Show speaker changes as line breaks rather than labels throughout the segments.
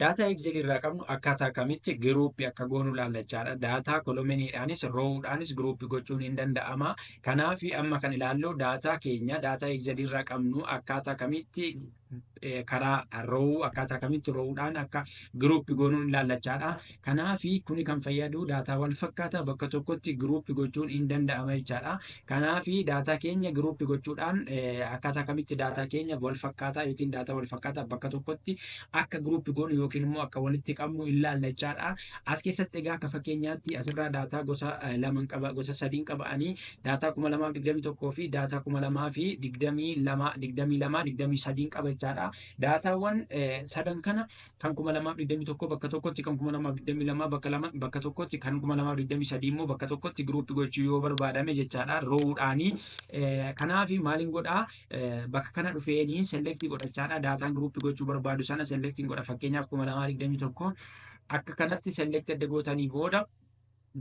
Daataa Excel irraa qabnu akkaataa akkamitti giruuppi akka goonu laallachaadha. Daataa kolominiidhaanis roowudhaanis giruuppi gochuun hin danda'ama. Kanaaf amma kan ilaallu daataa keenya daataa Excel irraa qabnu akkaataa kamitti karaa roowuu akkaataa kamitti roowudhaan akka giruuppi goonuun laallachaadha. Kanaafi kuni kan fayyadu daataa wal fakkaata bakka tokkotti group gochuun in danda'ama jechaadha. Kanaafi daataa keenya group gochuudhaan akkaataa kamitti daataa keenya wal fakkaataa yookiin daataa wal fakkaataa bakka tokkotti akka group goonu yookiin immoo akka walitti qabnu in laalla jechaadha. As keessatti egaa akka fakkeenyaatti asirraa daataa gosa laman qaba gosa sadiin qaba ani daataa 2021 fi daataa 2022 22 23 qaba jechaadha. Daataawwan sadan kana kan 2021 bakka tokkotti, kan 2022 bakka lama, bakka tokkotti, kan 2023 immoo bakka tokkotti group gochuu yoo barbaadame jechaadha row dhaani. Kanaaf maalin godhaa bakka kana dhufeeni select godhachaadha daataan group gochuu barbaadu sana select godha fakkeenyaaf 2021 akka kanatti select adda gootanii booda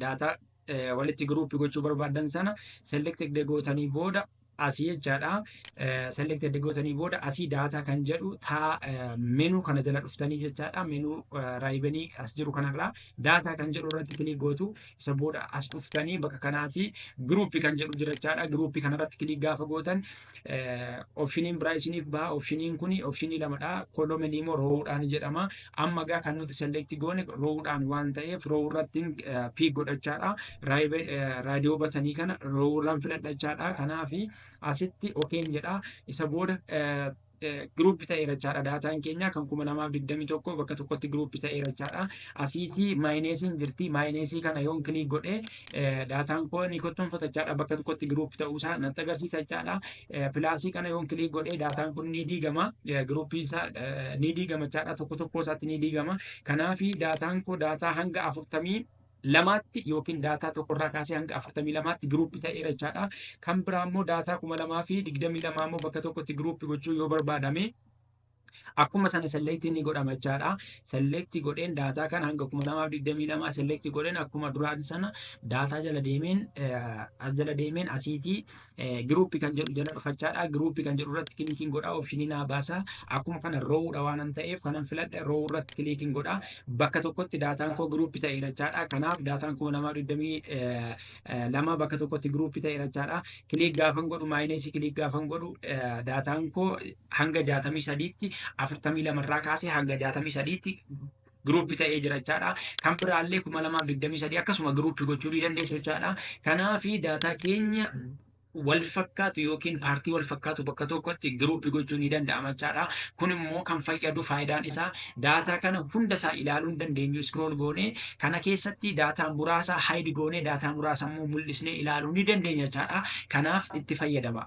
daataa eh, walitti giruuppii gochuu barbaadan sana selected gootanii booda asii jechaadha. Eh, selected gootanii booda asii daataa kan jedhu taa eh, menuu kana jala dhuftanii jechaadha. Menuu eh, raayibenii as jiru kanarraa daataa kan jedhu irratti kilii gootu isa booda as dhuftanii bakka kanaati giruuppii kan jedhu jira jechaadha. Giruuppii kanarratti kilii gaafa gootan Opshiniin biraa isiniif baha. Opshiniin kun opshinii lamadha. Kolomanii immoo roowudhaan jedhama. Amma egaa kan nuti selekti goone roowudhaan waan ta'eef roowuu irratti piik godhachaadha. Raadiyoo batanii kana roowuu irraan filadhachaadha. Kanaaf asitti okeen jedha. Isa booda giruuppi ta'eera jechaadha. Daataan keenya kan kuma lamaaf digdamii tokko bakka tokkotti giruuppi ta'eera jechaadha. Asiitii maayineesiin jirti. Maayineesii kana yoon kiliik godhe daataan koo ni kottonfata jechaadha. Bakka tokkotti giruup ta'uusaa natti agarsiisa jechaadha. Pilaasii kana yoon kiliik godhe daataan kun ni diigama. Giruupiin isaa ni diigama jechaadha. Tokko tokkoo isaatti ni diigama. Kanaafi daataan koo daataa hanga afurtamii lamaatti yookiin daataa tokkorraa kaasee hanga afurtamii lamaatti giruupi ta'eera jechaadha. Kan biraa immoo daataa kuma lamaa fi digdamii lamaa immoo bakka tokkotti giruupi gochuu yoo barbaadame Akkuma sana select ni godhama jechaadha. Select godheen daataa kana hanga kuma lamaaf digdamii lamaa select godheen akkuma duraati sana daataa jala deemeen as jala deemeen asiitii giruuppii kan jedhu jala dhufachaadha. Giruuppii kan jedhu irratti kiliikiin godha opshinii naa baasa. Akkuma kana roowudha waanan ta'eef kanan filadhe roow irratti kiliikiin godha. Bakka tokkotti daataan koo giruuppii ta'e jechaadha. Kanaaf daataan kuma lamaaf digdamii lama bakka tokkotti giruuppii ta'e jechaadha. Kiliik gaafan godhu maayineesii kiliik gaafan godhu daataan koo hanga 63tti 42 irraa kaasee hanga 63tti giruuppi ta'ee jira jechaadha. Kan biraallee 2023 akkasuma giruuppi gochuu ni dandeessu jechaadha. Kanaaf daataa keenya wal fakkaatu yookiin paartii wal fakkaatu bakka tokkotti giruuppi gochuu ni danda'ama jechaadha. Kun immoo kan fayyadu faayidaan isaa daataa kana hunda isaa ilaaluu hin dandeenyu iskrool goonee kana keessatti daataa muraasa haayidi goonee daataa muraasa immoo mul'isnee ilaaluu ni dandeenya jechaadha. Kanaaf itti fayyadama.